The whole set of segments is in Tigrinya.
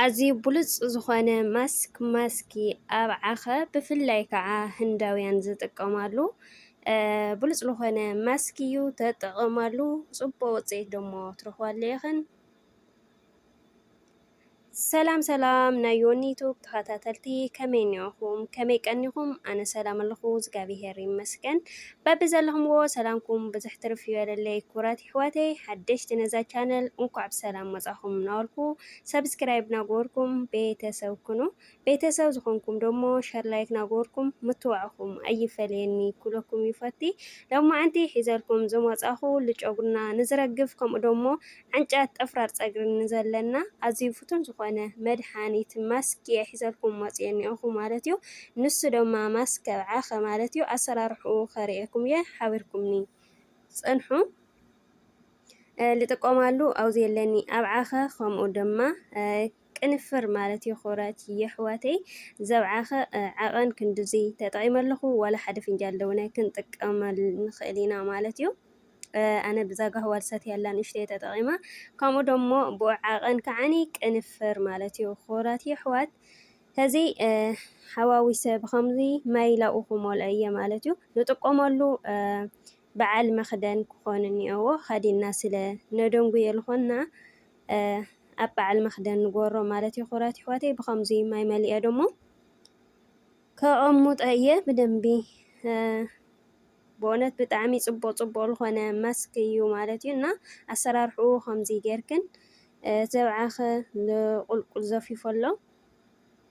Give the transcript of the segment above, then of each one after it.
ኣዝዩ ብሉጽ ዝኾነ ማስክ ማስኪ ኣብዓኸ ብፍላይ ከዓ ህንዳውያን ዝጥቀማሉ ብሉጽ ዝኾነ ማስክ እዩ ተጠቐማሉ ጽቡቅ ውጽኢት ደሞ ትረኽባሉ ኢኽን ሰላም ሰላም ናይ ዮኒ ዩቱብ ተኸታተልቲ ከመይ እኒኦኹም ከመይ ቀኒኹም ኣነ ሰላም ኣለኹ እግዚኣብሄር ይመስገን በቢ ዘለኹምዎ ሰላምኩም ብዙሕ ትርፍ ይበለለይ ክብራት ይሕዋተይ ሓደሽቲ ነዛ ቻነል እንኳዕ ብሰላም መፃኹም ናበልኩ ሰብስክራይብ ናገበርኩም ቤተሰብ ኩኑ ቤተሰብ ዝኾንኩም ደሞ ሸር ላይክ ናገበርኩም ምትዋዕኹም ኣይፈለየኒ ኩለኩም ይፈቲ ሎማዓንቲ ሒዘልኩም ዝመፃኹ ልጨጉርና ንዝረግፍ ከምኡ ደሞ ዓንጫት ጠፍራር ፀግሪ ንዘለና ኣዝዩ ፍቱን ዝኾነ መድሓኒት ማስክ እየ ሒዘልኩም መፅየ እኒኦኹ ማለት እዩ ንሱ ደማ ማስክ ከብዓኸ ማለት እዩ ኣሰራርሕኡ ከርእየኩም እየ ሓቢርኩምኒ ዝጸንሑ ልጥቀማሉ ኣውዝ የለኒ ኣብዓኸ ከምኡ ድማ ቅንፍር ማለት የኾረት የሕዋተይ ዘብዓኸ ዓቐን ክንድዙይ ተጠቒመ ኣለኹ ዋላ ሓደ ፍንጃል ደውነ ክንጥቀመል ንኽእል ኢና ማለት እዩ ኣነ ብዛጋህዋ ልሰት ያላ ንእሽተይ ተጠቒማ ከምኡ ደሞ ብኡ ዓቐን ከዓኒ ቅንፍር ማለት እዩ ኹራት የሕዋት ሕዚ ሓዋዊሰ ብኸምዚ ማይ ላብኡ ክመልኦ እየ ማለት እዩ። ንጥቆመሉ በዓል መኽደን ክኾን እኒኦዎ። ኸዲንና ስለ ነደንጉየ ልኾንና ኣብ በዓል መኽደን ንጎሮ ማለት እዩ። ኩራት ይሕዋተይ ብኸምዚ ማይ መሊኦ ደሞ ከቐሙጦ እየ ብደንቢ ብእውነት ብጣዕሚ ጽቡቕ ጽቡቕ ዝኾነ ማስክ እዩ ማለት እዩ እና ኣሰራርሕኡ ከምዚ ጌርክን ዘብዓኸ ንቁልቁል ዘፊፎ ኣሎ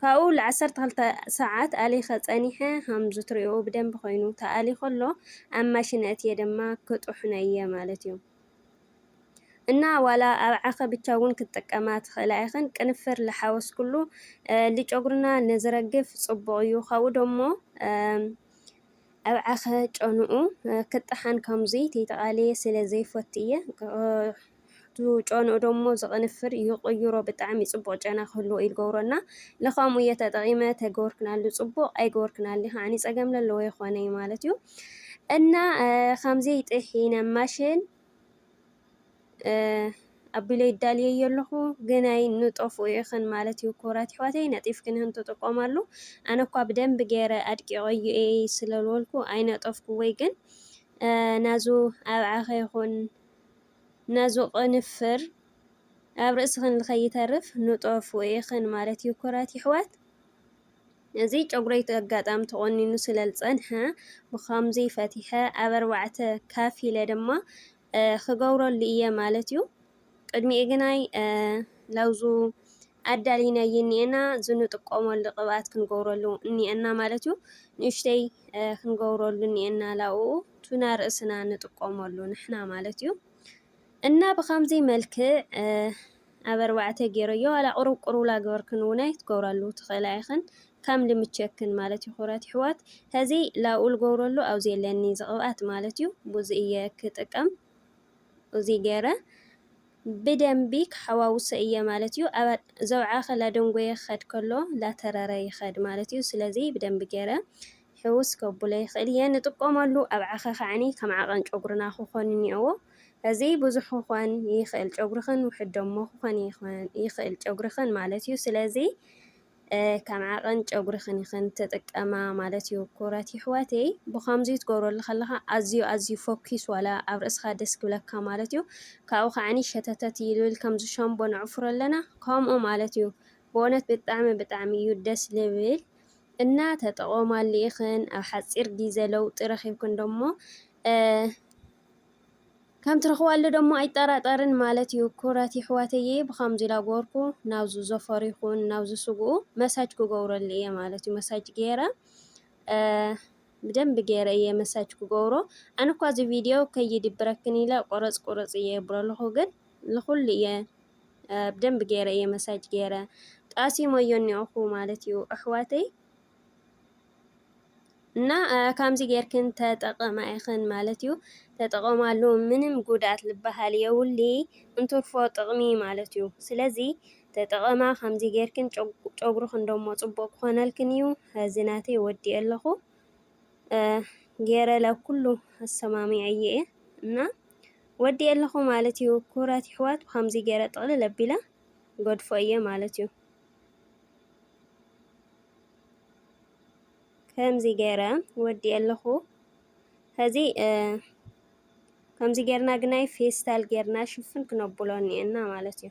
ካብኡ ልዓሰርተ ክልተ ሰዓት ኣሊኸ ጸኒሐ ሃምዙ ትሪእኦ ብደንቢ ኾይኑ ተኣሊ ኸሎ ኣብ ማሽን ኣእትየ ደማ ክጥሕኖ እየ ማለት እዩ እና ዋላ ኣብ ዓኸ ብቻ እውን ክትጥቀማ ትኽእላ ኢኽን ቅንፍር ልሓወስ ኩሉ ልጨጉርና ንዝረግፍ ጽቡቕ እዩ ካብኡ ደሞ ኣብ ዓኸ ጨንኡ ክጠሓን ከምዙይ ተይተቓለየ ስለ ዘይፈቱ እየ ጨንኡ ደሞ ዝቕንፍር ይቕይሮ ብጣዕሚ ጽቡቕ ጨና ክህልዎ እዩ ዝገብሮ እና ለኻምኡ እየ ተጠቒመ ተገበርክናሉ ጽቡቕ ኣይገበርክናሊ ከዓኒ ጸገም ለለዎ የኾነ እዩ ማለት እዩ እና ከምዘይ ጥሒነ ማሽን ኣቢለ ይዳልየ የለኹ ግናይ ንጠፍኡ ኢኽን ማለት እዩ ክቡራት ይሕዋተይ ነጢፍክንህን ትጥቀማሉ ኣነ እኳ ብደንብ ገይረ ኣድቂቐዩ እየ ስለልወልኩ ኣይነጠፍኩ ወይ ግን ናዙ ኣብዓኸ ይኹን ነዚ ቅንፍር ኣብ ርእስኽን ልከይተርፍ ንጦፍ ውኢኽን ማለት እዩ ኩራት ይሕዋት። እዚ ጨጉረይ ኣጋጣሚ ተቆኒኑ ስለ ልጸንሐ ብኸምዚ ፈቲሐ ኣብ ኣርባዕተ ካፊለ ድማ ክገብረሉ እየ ማለት እዩ። ቅድሚኡ ግናይ ላውዙ ኣዳሊናዬ እኒኤና ዝንጥቆመሉ ቅብኣት ክንገብረሉ እኒኤና ማለት እዩ ንእሽተይ ክንገብረሉ እኒኤና ላኡኡ ቱና ርእስና ንጥቆመሉ ንሕና ማለት እዩ እና ብከምዚ መልክዕ ኣብ ኣርባዕተ ገይረዮ ዋላ ቁሩብ ቁሩብ ላገበርክን እውን ኣይትገብራሉ ትኽእላ ኢኽን ከም ልምቸክን ማለት እዩ ክብራት ይሕዋት ሀዚ ላብኡ ልገብረሉ ኣብዚ የለኒ ዝቕብኣት ማለት እዩ ብዙ እየ ክጥቀም እዚ ገይረ ብደምቢ ክሓዋውሶ እየ ማለት እዩ ኣብ ዘውዓኸ ላደንጎየ ክኸድ ከሎ ላተረረ ይኸድ ማለት እዩ ስለዚ ብደምቢ ገይረ ሕውስ ከብሎ ይኽእል እየ ንጥቀመሉ ኣብ ዓኸ ከዓኒ ከም ዓቐን ጨጉርና ክኾን እኒኦዎ እዚ ብዙሕ ክኾን ይኽእል ጨጉርኽን ውሕድ ደሞ ክኾን ይኽእል ጨጉርኽን ማለት እዩ ስለዚ ከም ዓቐን ጨጉሪኽን ኢኽን ትጥቀማ ማለት እዩ። ኩብራት ይሕዋተይ ብኸምዙይ ትገብረሉ ከለኻ ኣዝዩ ኣዝዩ ፎኪስ ዋላ ኣብ ርእስኻ ደስ ክብለካ ማለት እዩ። ካብኡ ከዓኒ ሸተተት ይልብል ከምዚ ሸምቦ ነዕፍሮ ኣለና ከምኡ ማለት እዩ። ብእውነት ብጣዕሚ ብጣዕሚ እዩ ደስ ልብል እና ተጠቐማሉ ኢኽን ኣብ ሓፂር ጊዘ ለውጢ ረኺብክን ደሞ ከም ትረኽባሉ ደሞ ኣይጠራጠርን ማለት እዩ ኩብራት የሕዋተይየ ብካምዙይ ላጎርኩ ናብዙ ዘፈሩ ይኩን ናብዙ ስግኡ መሳጅ ክገብረሉ እየ ማለት እዩ መሳጅ ገይረ ብደንቢ ገይረ እየ መሳጅ ክገብሮ ኣነ እኳ እዚ ቪድዮ ከይድብረክን ኢለ ቆረፅ ቁርፅ እየ የብረልኹ ግን ልኹሉ እየ ብደንቢ ገይረ እየ መሳጅ ገይረ ጣሲሞዮ እኒኦኹ ማለት እዩ ኣሕዋተይ እና ካምዚ ጌርክን ተጠቐማ ኢኽን ማለት እዩ ተጠቐማሉ ምንም ጉድኣት ልበሃል የውሊ እንትርፎ ጥቕሚ ማለት እዩ ስለዚ ተጠቐማ ካምዚ ጌርክን ጨጉርኽን ደሞ ጽቡቕ ክኾነልክን እዩ እዚ ናተይ ወዲኤ ኣለኹ ጌረለ ኩሉ ኣሰማሚዐ እየ እና ወዲኤ ኣለኹ ማለት እዩ ክብራት ይሕዋት ብካምዚ ጌረ ጥቕልል ኣቢለ ገድፎ እየ ማለት እዩ ከምዚ ገይረ ወዲኤ ኣለኹ ኸዚ ከምዚ ገርና ግናይ ፌስታል ገርና ሽፍን ክነብሎ እኒኤና ማለት እዩ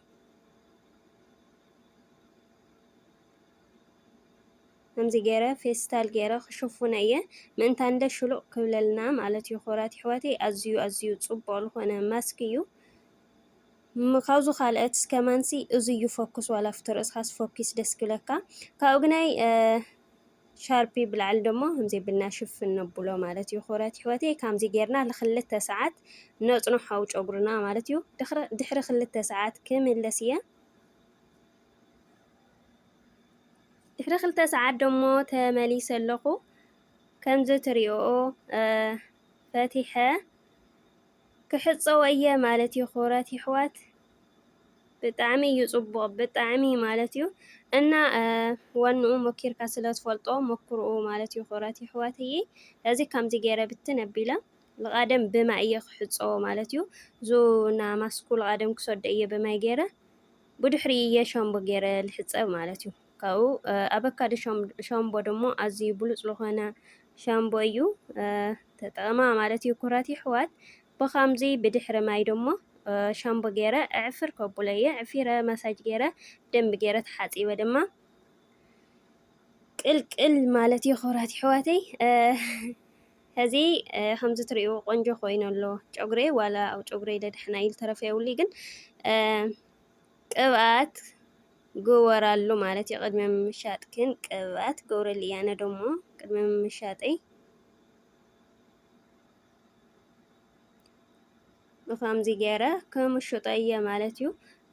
ከምዚ ገይረ ፌስታል ገይረ ክሽፉነ እየ ምእንታ እንደ ሽሉቕ ክብለልና ማለት እዩ ክብራት ይሕዋተይ ኣዝዩ ኣዝዩ ፅቡቕ ዝኾነ ማስክ እዩ ካብዙ ካልኦት እስከማንሲ እዙዩ ፈኩስ ዋላ ፍቶ ርእስኻስ ፈኲስ ደስክብለካ ካብኡ ግናይ ሻርፒ ብላዕሊ ደሞ ከምዘይብልና ሽፍን ነብሎ ማለት እዩ ዂረት ሕይወት ካምዙይ ጌርና ልኽልተ ሰዓት ነጽኖ ሓው ጨጉርና ማለት እዩ ድኅሪ ኽልተ ሰዓት ክምለስ እየ ድኅሪ ኽልተ ሰዓት ደሞ ተመሊሰ ኣለኹ ከምዝ ትርኦ ፈቲሐ ክሕጸቦ እየ ማለት እዩ ክብራት የሕዋት። ብጣዕሚ እዩ ጽቡቕ ብጣዕሚ ማለት እዩ እና ዋንኡ ሞኪርካ ስለ ትፈልጦ ሞክርኡ ማለት እዩ ክብራት የሕዋት እየ እዚ ከምዚ ገይረ ብትን ኣቢለ ልቓደም ብማይ እየ ክሕጸቦ ማለት እዩ ዙ እና ማስኩ ልቓደም ክሰዶ እየ ብማይ ገይረ ብድሕሪ እየ ሻምቦ ገይረ ልሕጸብ ማለት እዩ። ካብኡ ኣበካዶ ሻምቦ ደሞ ኣዝዩ ብሉጽ ዝኾነ ሻምቦ እዩ ተጠቐማ ማለት እዩ ኩራት ይሕዋት ብኻምዚ ብድሕሪ ማይ ደሞ ሻምቦ ገይረ ዕፍር ከቡለ እየ ዕፊረ መሳጅ ገይረ ደንቢ ገይረ ተሓጺበ ድማ ቅልቅል ማለት እዩ ኩራት ይሕዋተይ ሕዚ ከምዚ ትሪኡ ቆንጆ ኮይኑ ኣሎ ጨጉሬ ዋላ ኣብ ጨጉሬ ደድሕና ኢሉ ተረፈ የብሉ ግን ቅብኣት ግበራሉ ማለት እዩ ቅድሚ ምምሻጥክን ቅብኣት ግብርሊ ኣነ ደሞ ቅድሚ ምምሻጠይ ብከምዚ ገይረ ክምሽጦ እየ ማለት እዩ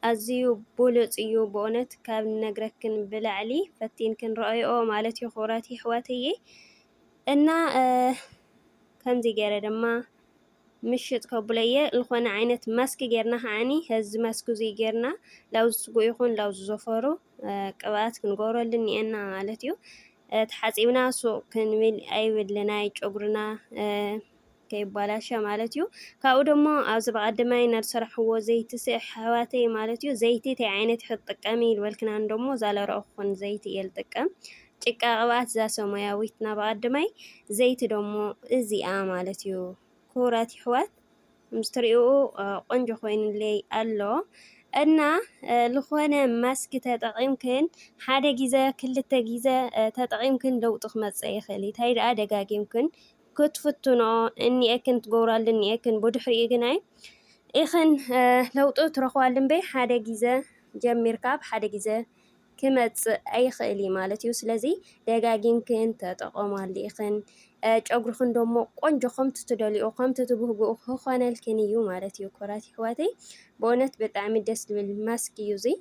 ኣዝዩ ብሉጽ እዩ ብእውነት ካብ ነግረክን ብላዕሊ ፈቲንክን ረኣይኦ ማለት እዩ ክብራት ይሕዋትዬ እና ከምዚ ገይረ ድማ ምሽጥ ከብሎ እየ ልኾነ ዓይነት ማስኪ ጌርና ኸዓኒ ሀዚ ማስኪ እዙይ ጌርና ላውዝ ስጉ ይኹን ላውዝ ዘፈሩ ቅብኣት ክንገብረሉ እኒኤና ማለት እዩ ተሓፂብና ሱቅ ክንብል ኣይብልና ጨጉርና ከይባላሸ ማለት እዩ ካብኡ ደሞ ኣብዚ ብቀደማይ ናድሰራሕዎ ዘይቲ ስዕ ኣሕዋተይ ማለት እዩ ዘይቲ እንታይ ዓይነት ክትጥቀሚ ይልበልክናን ደሞ ዛለረኹን ዘይቲ እየ ልጥቀም ጭቃ ቅብኣት ዛሶ ሞያዊት ናብ ኣቀድማይ ዘይቲ ደሞ እዚኣ ማለት እዩ ክቡራት ይሕዋት ምስትሪኡ ቆንጆ ኮይኑለይ ኣሎ እና ዝኾነ ማስክ ተጠቒምክን ሓደ ግዘ ክልተ ግዘ ተጠቒምክን ለውጢ ክመፅእ ይኽእል እዩ ታይ ደኣ ደጋጊምክን ክትፍትንኦ እኒኤክን ትገብራሉ እኒኤክን ብድሕሪኡ ግናይ ኢኽን ለውጢ ትረኽባሉ እምበይ ሓደ ግዘ ጀሚርካ ብሓደ ግዘ ክመፅእ ኣይኽእል እዩ ማለት እዩ። ስለዚ ደጋጊምክን ተጠቐማሉ ኢኽን። ጨጉርኽን ደሞ ቆንጆ ከምቲ ትደልኦ ከምቲ ትብህግኡ ክኾነልክን እዩ ማለት እዩ። ኮራት ይሕዋተይ ብእውነት ብጣዕሚ ደስ ዝብል ማስክ እዩ እዙይ።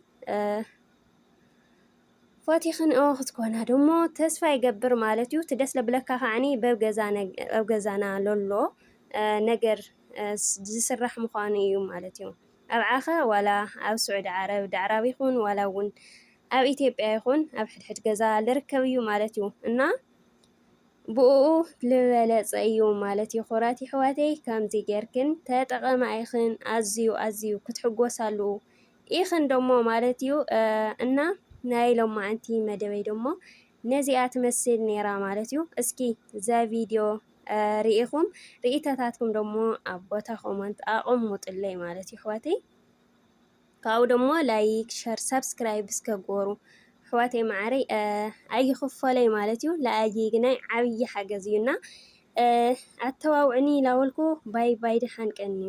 ፎቲኽን እወ ክትኮና ደሞ ተስፋ ይገብር ማለት እዩ። እቲ ደስ ለብለካ ከዓኒ ኣብ ገዛና ለሎ ነገር ዝስራሕ ምዃኑ እዩ ማለት እዩ። ኣብ ዓኻ ዋላ ኣብ ሱዕዲ ዓረብ ዳዕራብ ይኹን ዋላ ውን ኣብ ኢትዮጵያ ይኹን ኣብ ሕድሕድ ገዛ ልርከብ እዩ ማለት እዩ እና ብኡኡ ልበለጸ እዩ ማለት እዩ ኹራት ይሕዋተይ ከምዚ ጌርክን ተጠቐማ ኢኽን ኣዝዩ ኣዝዩ ክትሕጎሳሉ ኢኽን ደሞ ማለት እዩ እና ናይ ሎማዓንቲ መደበይ ደሞ ነዚኣ ትመስል ኔራ ማለት እዩ። እስኪ እዛ ቪድዮ ርኢኹም ርኢተታትኩም ደሞ ኣብ ቦታ ኮመንት ኣቐሙጥለይ ማለት እዩ ኣሕዋተይ። ካብኡ ደሞ ላይክ፣ ሸር፣ ሳብስክራይብ እስከ ጎሩ ኣሕዋተይ መዓረይ ኣይኽፈለይ ማለት እዩ ለኣይ ግናይ ዓብዪ ሓገዝ እዩና ኣተባብዑኒ ላበልኩ ባይ ባይ ደሓን ቀንዩ።